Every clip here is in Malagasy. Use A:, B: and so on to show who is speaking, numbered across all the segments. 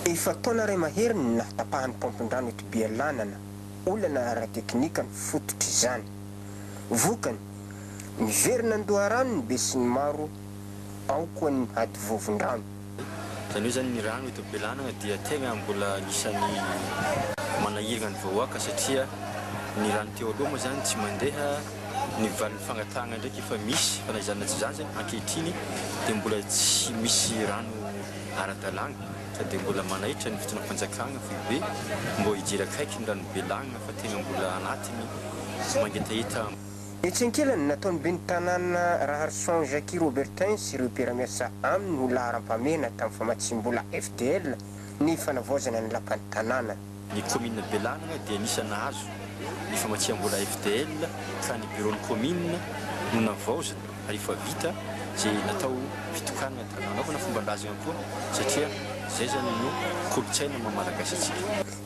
A: Efa taona iray mahery ny nahatapahan'ny paompin-drano eto Bealanana, olana ara-teknika no fototr'izany. Vokany, miverina an-doharano ny besinimaro ao koa ny hadivovon-drano. Izany
B: hoe izany ny rano eto Bealanana dia tegna mbola anisan'ny manahirana ny vahoaka satria ny rano teo aloha moa izany tsy mandeha, Ny valin'ny fangatahana ndraiky efa misy fa na izany na tsy izany zany ankehitriny dia mbola tsy misy rano ara-dalàna sady dia mbola manaitra ny fitondram-panjakana foibe mbô hijery akaiky ny ranobe lagnina fa tegna mbola anatiny mangetaheta Etsy
A: ankilany, nataon'ny ben'ny tanàna Raharison Jacky Robertin sy ireo mpiara-miasa aminy ho laharam-pahamehana tamin'ny famatsiam-bola FDL ny fanavaozana ny lapan'ny tanàna. Ny kaominina
B: Bealanagna dia anisan'ny nahazo ny famatsiam-bola FDL ka ny biraon'ny kaominina no navaozina rehefa vita izay natao fitokanana ka nanaovana fomban-drazana koa satria izay izany no kolontsaina maha malagasy antsika.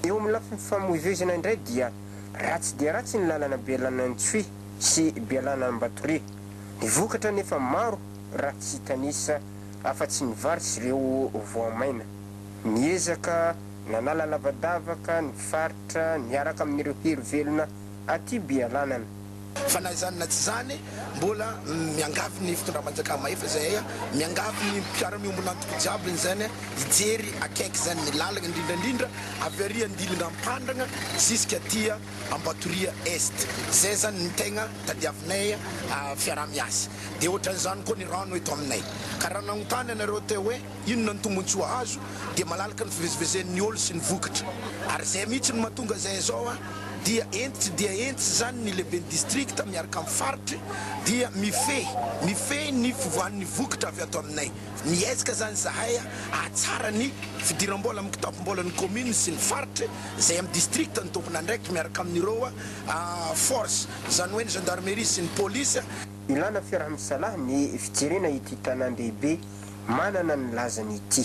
B: Eo amin'ny lafiny
A: famoivoizana indray dia ratsy dia ratsy ny lalana Bealanantsy sy Bealanan'Ambatore. Ny vokatra anefa maro raha tsy hitanisa afa-tsy ny vary sy ireo voamaina. Niezaka nanala lavadavaka ny faritra niaraka amin'ireo hery velona aty Bialanana. Fa na izany
C: na tsy izany, mbola miangavy ny fitondram-panjakana mahefa izahay, miangavy ny mpiara-miombona antoko jiaby izany hijery akaiky izany ny lalana indrindra indrindra avy ary Andilinga Ampandrana ziska aty Ambatoria Est. Izay izany ny tegna tadiavinay fiaraha-miasa. Dia ohatran'izany koa ny rano eto aminay. Ka raha nagnontany anareo teo hoe. Inona ny tombon-tsoa azo? Dia malalaka ny fivezivezen'ny ol sy ny vokatra. Ary izay mihitsy no mahatonga izay izao a! Dia enty tsy dia enty izany ny lehiben'ny distrikta miaraka amin'ny faritry dia mifehy, mifehy ny fivoahan'ny vokatra avy ato aminay. Miezka izany izahay hahatsara ny fidiram-bola amin'ny kitapom-bolan'ny kaominina sy ny faritry izay amin'ny distrikta ny tompon'andraikitra miaraka amin'ireo force, izany hoe ny gendarmerie sy ny polisy. Ilana
A: fiaraha-misalahy ny fijerena ity tanàn-dehibe manana ny lazany ity.